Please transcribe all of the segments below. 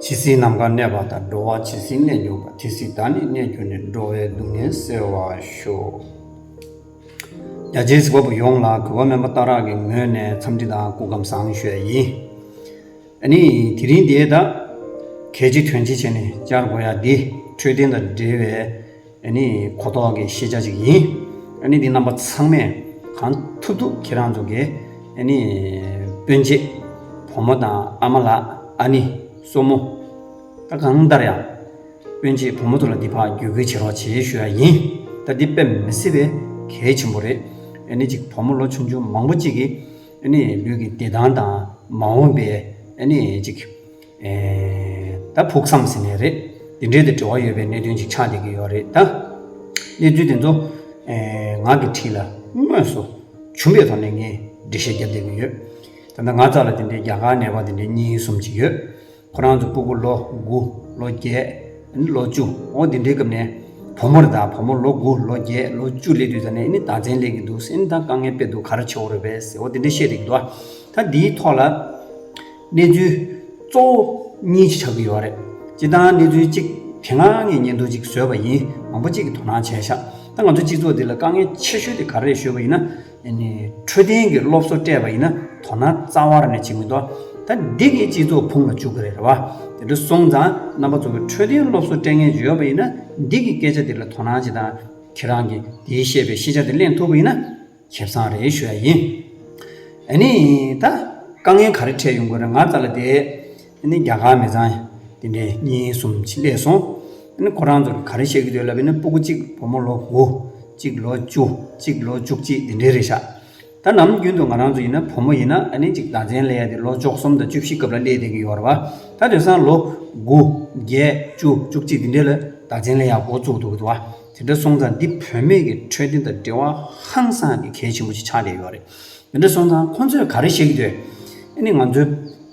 ཇི་སྲིད་ནམ་མཁའ་གནས་པ་དང་འགྲོ་བ་ཇི་སྲིད་གནས་འགྱུར་བ་དེ་སྲིད་བདག་ནི་གནས་གྱུར་ནས་འགྲོ་བའི་སྡུག་བསྔལ་སེལ་བར་ཤོག། རྒྱ་རྗེས་སྒོ་པོ་ཡོངས་ལ་གུས་པ་སྨོན་པ་རྟ་རག་གི་ངོས་ནས་འཚམས་འདྲི་དང་སྐུ་ཁམས་བཟང་ཤོས་ཡིན། ནི། དེ་རིང་དེའི་ད་གལ་ཆེ་དོན་ཆེ་བྱས་ནས་བསྐྱར་གོ་ཡ་འདི་འཕྲོད་བསྟེན་དང་འབྲེལ་བའི་ནི་གོ་རྟོགས་ཀྱི་ཤེས་བྱ་ཅིག་ཡིན། ནི་འདི་རྣམ་པ་ཚང་མས་གང་ཐུབ་ཐུབ་ཁྱེད་རང་ཚོ་གི་ནི་སྤུན་མཆེད་བུ་མོ་དང་ཨ་མ་ལགས་ཨ་ནི་སོ་མོ། ད་གང་ལྟར་ཡང་སྤུན་མཆེད་བུ་མོ་ཚོ་ལ་འདི་ཕག་བརྒྱུད་ཁུལ་བྱེད་རོགས་བྱེད་ཞུ་ཡ་ཡིན། ད་འདི་དཔེ་མི་སྲིད་པས་གལ་ཆེན་པོ་རེད། ནི་གཅིག་བུ་མོ་ལོ་ཆུང་ཆུང་མང་པོ་གཅིག་གིས། ལུས་ཀྱི་བདེ་ཐང་དང་མ་འོངས་པའི་ད་ཕུགས་བསམ་ཟིན་ནས་རེད། དེ་འབྲེལ་དུ་འབྲེལ་བ་ཡོད་པའི་གནད་དོན་ཞིག་ཆགས་བསྡད་ཀྱི་ཡོད་རེད་ད། གནས་ཚུལ་དེ་ཚོ་ངག་གིས་བྲིས་ལ་དངོས་སུ་བྱུང་བའི་ཐོག་ནས་ངས་འགྲེལ་བཤད་བརྒྱབ་བསྡད་ཀྱི་ཡོད། ད་ང་ཙག་ལ་དེ་འདྲའི་རྒྱ་གར་ནད་པ་དེ་འདྲའི་གཉིས་གསུམ་ཅིག་ཡོད། ཁོ་རང་ཚོ་སྤུ་གུ་ལོ་དགུ་ལོ་བརྒྱད་ནི་ལོ་བཅུ་འོ་དེ་འདྲའི་སྐབས་ནས་བུ་མོར་ད་བུ་མོ་ལོ་དགུ་ལོ་བརྒྱད་ལོ་བཅུ་སླེབས་དུས་ད་ནི་ནི་ད་མཚན་ལེགས་ཀྱི་འདུག་སེམས་ད་དཀའ་ངལ་དཔེ་འདུག་ག་རེ་བྱེད་འོ་རེ་བས་ཟེར་འོ་དེ་འདྲའི་བཤད་རེ་གི་འདུག་ད་འདིའི་ཐོག་ལ་གནས་ཚུལ་གཙོ་བོ་གཉིས་ཆགས་ཀྱི་ཡོད་རེད་སྤྱི་བཏང་གནས་ཚུལ་གཅིག་དེ་སྔ་ངས་ཉེན་འདུག་ཅིག་བཟོས་པ་ཡིན་མང་པོ་གཅིག་གི་དོ་སྣང་བྱས་ཤག་ད་ང་ཚོ་སྤྱི་ཚོགས་འདི་ལ་དཀའ་ངལ་ཆེ་ཤོས་དེ་ག་རེ་རེད་ཤོད་པ་ཡིན་ན། འཕྲོད་བསྟེན་གྱི་སློབ་གསོ་སྤྲད་པ་ཡིན་ན་དོ་སྣང་རྩ་བར་ནས་བྱེད་མི་འདུག་ད་འདི་གིས་སྤྱི་ཚོགས་ཕུང་ལ་བཅུག་གི་རེད་བ། དེ་འདྲ་སོང་ཙང་རྣམ་པ་ཚོ་གི་འཕྲོད་བསྟེན་སློབ་གསོ་སྤྲད་མཁན་བྱོས་ཡོད་པ་ཡིན་ན་འདི་གི་སྐད་ཆ་འདི་ལ་དོ་སྣང་བྱེད་དང་ཁྱེད་རང་གིས་འདིའི་བཤད་པའི་ཤེས་བྱ་འདི་གླེང་ཐུབ་པ་ཡིན་ན་ཁེབ་སང་རེད་ཞུ་ཡ་ཡིན། ཨ་ནི། ད་དཀའ་ངལ་ག་རེ་འཕྲད་ཡོང་གི་རེད་ང་ཙ་ལ་བསྡད། དེ་ནི་རྒྱ་གར་མི་ཚང། དེ་འདྲས་གཉིས་གསུམ་ཕྱིན་པས་སོང། དེ་ནི་ཁོ་རང་ཚོར་ག་རེ་བཤད་ཀྱི་འདོད་ལབ་པས་ན་སྤུ་གུ་གཅིག་བུ་མོ་ལོ་དགུ། གཅིག་ལོ་བཅུ། གཅིག་ལོ་བཅུ་གཅིག་དེ་འདྲས་རེད་ཤག། ད་ནམ་རྒྱུན་དུ་ང་རང་ཚོ་ཡིན་ན་བུ་མོ་ཡིན་ན་ཨ་ནེ་གཅིག་ཟླ་མཚན་ལས་ཡ་དེ་ལོ་བཅོ་གསུམ་དང་བཅུ་བཞི་སྐབས་ལ་སླེ་བསྡད་ཀྱི་ཡོད་རེད་བ། ད་དེང་སང་ལོ། དགུ། བརྒྱད། བཅུ། བཅུ་གཅིག་དེ་འདྲས་ལ་ཟླ་མཚན་ལས་ཡ་འགོ་བཙུགས་འདུག་གི་འདུག་བ། དེ་འདྲ་སོང་ཙང་འདི་བུད་མེད་ཀྱི་འཕྲོད་བསྟེན་དང་འབྲེལ་བ་ཧང་སང་གི་གལ་ཆེན་པོ་ཞིག་ཆགས་བསྡད་ཡོད་རེད། དེ་འདྲས་སོང་ཙང་ཁོ་ཚོས་ག་རེ་བཤད་ཀྱི་འདོད། ཨ་ནེ་ང་ཚོའི།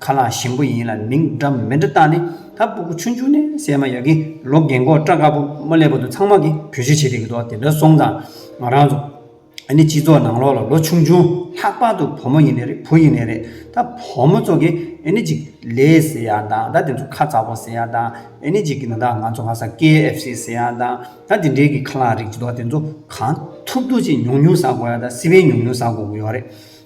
ཁ་ལག་ཞིམ་པོ་ཡིན་ལ་མིང་འདྲ་མི་འདྲ་བཏགས་ནས་ད་སྤུ་གུ་ཆུང་ཆུང་ནས་སད་མ་ཡག་གི་ལོ་རྒན་མགོ་སྐྲ་དཀར་པོ་མོ་སླེབས་པ་དུ་ཚང་མ་གི་བོད་ཆས་བྱེད་དེ་གི་དོ་དེ་འདྲ་སོང་ཙང་ང་རང་ཚོ་ཨ་ནི་སྤྱི་ཚོགས་ནང་ལོག་ལ་ལོ་ཆུང་ཆུང་ལྷག་པར་དུ་བུ་མོ་ཡིན་ནས་རེད་བུ་ཡིན་ནས་རེད་ད་བུ་མོ་ཚོ་གི་ཨ་ནི་ཅིག་ལས་ཟེར་ཡག་དང་ད་དེ་ཚོ་ཁ་ཚ་བོ་ཟེར་ཡག་དང་ཨ་ནི་ཅིག་གི་ན་ད་ང་ཚོ་ང་ས་ཀེ་ཨེ་ཧྥེ་སི་ཟེར་ཡག་དང་ད་དེ་འདྲའི་གི་ཁ་ལག་རིགས་ཅི་དོ་དེ་ཚོ་གང་ཐུབ་ཐུབ་ཅིག་ཉུང་ཉུང་ཟ་དགོ་ཡག་ད་སི་བན་ཉུང་ཉུང་ཟ་དགོ་གི་ཡོག་རེད།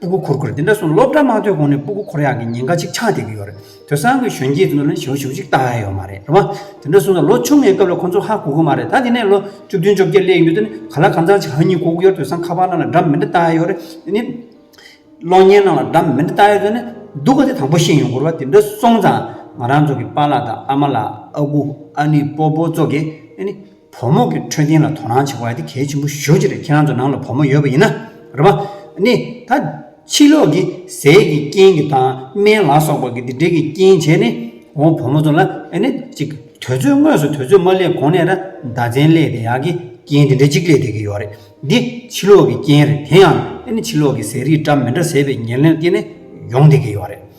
སྤུ་གུ་འཁོར་ཁུར་དེ་འདྲ་སོང་ནས་སློབ་གྲྭ་མ་ཐོན་གོང་ནས་སྤུ་གུ་འཁོར་ཡག་གི་ཉེན་ཁ་ཅིག་ཆགས་བསྡད་ཀྱི་ཡོད་རེད་དེང་སང་གི་གཞོན་སྐྱེས་ཚོ་ལ་ནི་ཞེ་བོ་ཞེ་བོ་ཅིག་བལྟ་ཡ་ཡོད་མ་རེད་རེད་དེ་འདྲ་སོང་ནས་ལོ་ཆུང་ངའི་སྐབས་ལ་ཁོང་ཚོ་ཧ་གོ་གི་མ་རེད་ད་དེ་ནས་ལོ་བཅུ་བདུན་བཅོ་བརྒྱད་སླེབས་ཡོད་དུས་ནི་ག་ལ་གང་ཟག་ཅིག་ཧ་གཉིས་གོ་གི་ཡོད་དེང་སང་ཁ་པར་ནང་ལ་སྒྲ་མི་འདྲ་བལྟ་ཡ་ཡོད་རེད་དེ་ནི་གློག་བརྙན་ནང་ལ་སྒྲ་མི་འདྲ་བལྟ་ཡ་ཡོད་ནི་སྡུག་ག་དེ་དང་པོ་ཤེས་ཡོང་གོ་རེད་བ་དེ་འདྲ་སོང་ཙང་ང་རང་ཚོ་གི་པ་ལགས་དང་ཨ་མ་ལགས་ཨ་ཁུ་ཨ་ནི་སྤོ་སྤོ་ཚོ་གིས་དེ་ནི་བུ་མོ་གི་འཕྲོད་བསྟེན་ལ་དོ་སྣང་བྱེད་དགོས་ལ་དེ་གལ་ཆེན་པོ་ཞུ་རྒྱུ་རེད་ཁྱེད་རང་ཚོ་ནང་ལ་བུ་མོ་ཡོད་པ་ཡིན་ན་རེད་བ། ནི་ད་ཕྱི་ལོག་གི་ཟས་ཀྱི་རྐྱེན་གྱི་དང་སྨན་ལ་སོགས་པ་གི་དེ་འདྲའི་གི་རྐྱེན་བྱས་ནི་འོང་བུ་མོ་ཚོ་ལ་ནི་ཅིག་དོལ་ཚོས་དངོས་སུ་དོལ་ཚོས་མ་སླེབས་གོང་ནས་ར་མདའ་ཚན་སླེས་དེ་ཡག་གི་རྐྱེན་དེ་འདྲའི་ཅིག་སླེས་དེ་གི་ཡོག་རེད་འདི་ཕྱི་ལོག་གི་རྐྱེན་རེད་དེ་ཡང་ནི་ཕྱི་ལོག་གི་ཟས་རིགས་འདྲ་མི་འདྲ་ཟས་པའི་ཉེར་ལེན་རྐྱེན་ནི་ཡོང་དེ་གི་ཡོག་རེད།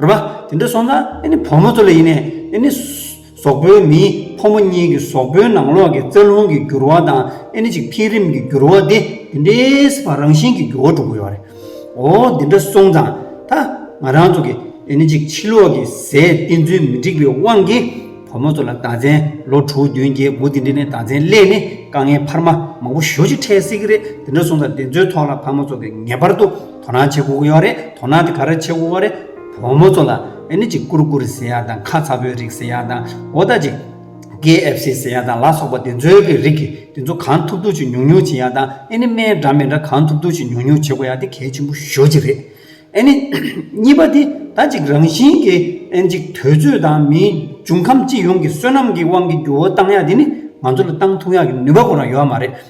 རེད་པ། དེ་འདྲ་སོང་ན་ནི་བུ་མོ་ཚོ་ལ་ཡིན་ནས་ནི་ནི་ཟོག་པོའི་མི་ཕོ་མོ་གཉིས་ཀྱི་ཟོག་པོའི་ནང་ལོགས་ཀྱི་རྩ་རླུང་གི་འགྱུར་བ་དང་ཨེ་ནི་ཅིག་འཕེལ་རིམ་གྱི་འགྱུར་བ་དེ་དེ་འདྲའི་བ་རང་བཞིན་གྱི་འགྱུར་བ་འགྲོ་གི་ཡོད་རེད། འོ་དེ་འདྲ་སོང་ཙང་ད་ང་རང་ཚོ་གི་ཨེ་ནི་ཅིག་ཕྱི་ལོགས་ཀྱི་ཟས་བསྟེན་ཚུལ་མི་འགྲིག་པའི་དབང་གིས་བུ་མོ་ཚོ་ལ་ཟླ་མཚན་ལོ་དྲུག་བདུན་བརྒྱད་དགུ་དེ་འདྲའི་ནས་ཟླ་མཚན་སླད་ནི་དཀའ་ངལ་འཕར་མ་མང་པོ་ཞོ་ཅིག་འཕྲད་སྲིད་ཀྱི་རེད་དེ་འདྲ་སོང་ཙང་དེ་ཚོའི་ཐོག་ལ་བ་མོ་ཚོ་གི་ངེས་པར་དུ། དོ་སྣང་བྱེད་དགོས་ཀྱི་ཡོད་རེད། དོ་སྣང་དེ་ག་རེ་བྱེད་དགོས་ཀྱི་རེད། བུ་མོ་ཚོ་ལ་ཨེ་ནི་ཅིག་སྐུར་སྐུར་ཟེར་ཡག་དང་ཁ་ཚ་བོའི་རིགས་ཟེར་ཡག་དང་འོ་ད་ཅིག KFC ཟེར་ཡག་དང་ལ་སོགས་པ་དེ་ཚོའི་གི་རིགས་ཀྱི་དེ་ཚོ་གང་ཐུབ་ཐུབ་ཅིག་ཉུག་ཉུག་བྱེད་ཡག་དང་ཨེ་ནི་སྨན་འདྲ་མེ་འདྲ་གང་ཐུབ་ཐུབ་ཅིག་ཉུག་ཉུག་བྱེད་དགོས་ཡག་དེ་གལ་ཆེན་པོ་ཤོས་ཅིག་རེད། ཨེ་ནི། གཉིས་པ་དེ་ད་ཅིག་རང་བཞིན་གྱི་ཨེ་ནི་ཅིག་དུས་ཚོད་དང་མིའི་འབྱུང་ཁམས་སྤྱི་ཡོངས་ཀྱི་བསོད་ནམས་ཀྱི་དབང་གིས་འགྱུར་བ་བཏང་ཡག་དེ་ནི་ང་ཚོ་ལ་བཏང་ཐུབ་ཡག་གི་ནུས་པ་ཁོ་རང་ཡོད་མ་རེད།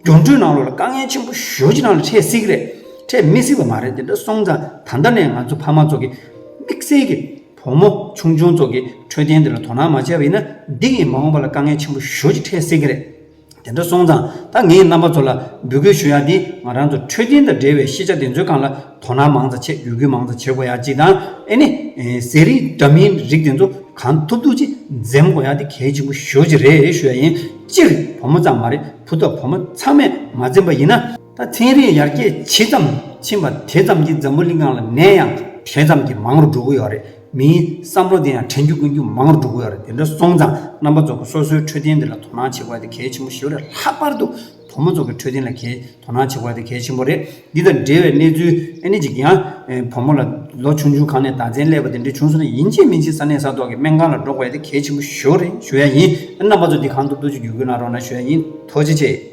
སྒྱུ་འཕྲུལ་ནང་ལོགས་ལ་དཀའ་ངལ་ཆེན་པོ་ཞོ་གཅིག་རང་ལ་འཕྲད་སྲིད་ཀྱི་རེད། འཕྲད་མི་སྲིད་པ་མ་རེད་དེ་འདྲ་སོང་ཙང་ད་ལྟ་ནས་ང་ཚོ་ཕ་མ་ཚོ་གི་དམིགས་བསལ་གྱི་བུ་མོ་ཆུང་ཆུང་ཚོ་གི་འཕྲོད་བསྟེན་དེ་ལ་དོ་སྣང་མ་བྱས་པ་ཡིན་ན་འདི་ཡིན་མ་འོངས་པ་ལ་དཀའ་ངལ་ཆེན་པོ་ཞོ་གཅིག་འཕྲད་སྲིད་ཀྱི་རེད། དེ་འདྲ་སོང་ཙང་ད་ངས་རྣམ་པ་ཚོ་ལ་འབོད་སྐུལ་ཞུ་ཡག་འདི་ང་རང་ཚོ་འཕྲོད་བསྟེན་དང་འབྲེལ་བའི་ཤེས་བྱ་དེ་ཚོའི་སྒང་ལ་དོ་སྣང་མང་ཙང་བྱེད་ཡོད་རྒུས་མང་ཙང་བྱེད་དགོས་ཡག་གཅིག་དང་ཨེ་ནི་ཟས་རིགས་འདྲ་མིན་རིགས་དེ་ཚོ་གང་ཐུབ་ཐུབ་ཅིག་འཛེམ་དགོས་ཡག་འདི་གལ་ཆེན་པོ་ཞོ་གཅིག་རེད་ཞུ་ཡག་ཡིན་སྤྱིར་བུ་མོ་ཙང་མ་རེད། བུ་དང་བུ་མོ་ཚང་མས་མ་འཛེམས་པ་ཡིན་ན། ད་ཐེངས་རིང་ཡར་རྒྱས་ཇི་ཙམ་ཕྱིན་པ་དེ་ཙམ་གྱིས་འཛམ་བུ་གླིང་སྒང་ལ་ནད་ཡང་དེ་ཙམ་གྱིས་མང་རུ་འགྲོ་གི་ཡོད་རེད། མིའི་བསམ་བློ་དེ་ཡང་དྲན་རྒྱུ་དཀོན་རྒྱུ་མང་རུ་འགྲོ་གི་ཡོད་རེད་དེ་འདྲ་སོང་ཙང་རྣམ་པ་ཚོ་གི་སོ་སོའི་འཕྲོད་བསྟེན་དེ་ལ་དོ་སྣང་བྱེད་དགོས་པ་དེ་གལ་ཆེན་པོ་ཞིག་རེད་ལྷག་པར་དུ་བུ་མོ་ཚོ་གི་འཕྲོད་བསྟེན་ལ་གལ་དོ་སྣང་བྱེད་དགོས་པ་དེ་གལ་ཆེན་པོ་རེད། འདི་དང་འབྲེལ་བའི་གནས་ཚུལ་ཨེ་ནི་ཅིག་ཡང། བུ་མོ་ལ། ལོ་ཆུང་ཆུང་གང་ནས་བདག་འཛིན་སླེབས་པ་དེ་འདྲའི་བྱུང་སོང་ན་ཡིན་ཅིག་མིན་ཅིག་ས་གནས་ས་ཐོག་གི་སྨན་ཁང་ལ་འགྲོ་དགོས་ཡ་དེ་གལ་ཆེན་པོ་ཞུ་རེ་ཞུ་ཡ་ཡིན། རྣམ་པ་ཚོ་འདི་གང་ཐུབ་ཐུབ་ཅིག་བརྒྱུད་སྐུལ་གནང་རོགས་གནང་ཞུ་ཡ་ཡིན། ཐུགས་རྗེ་ཆེ།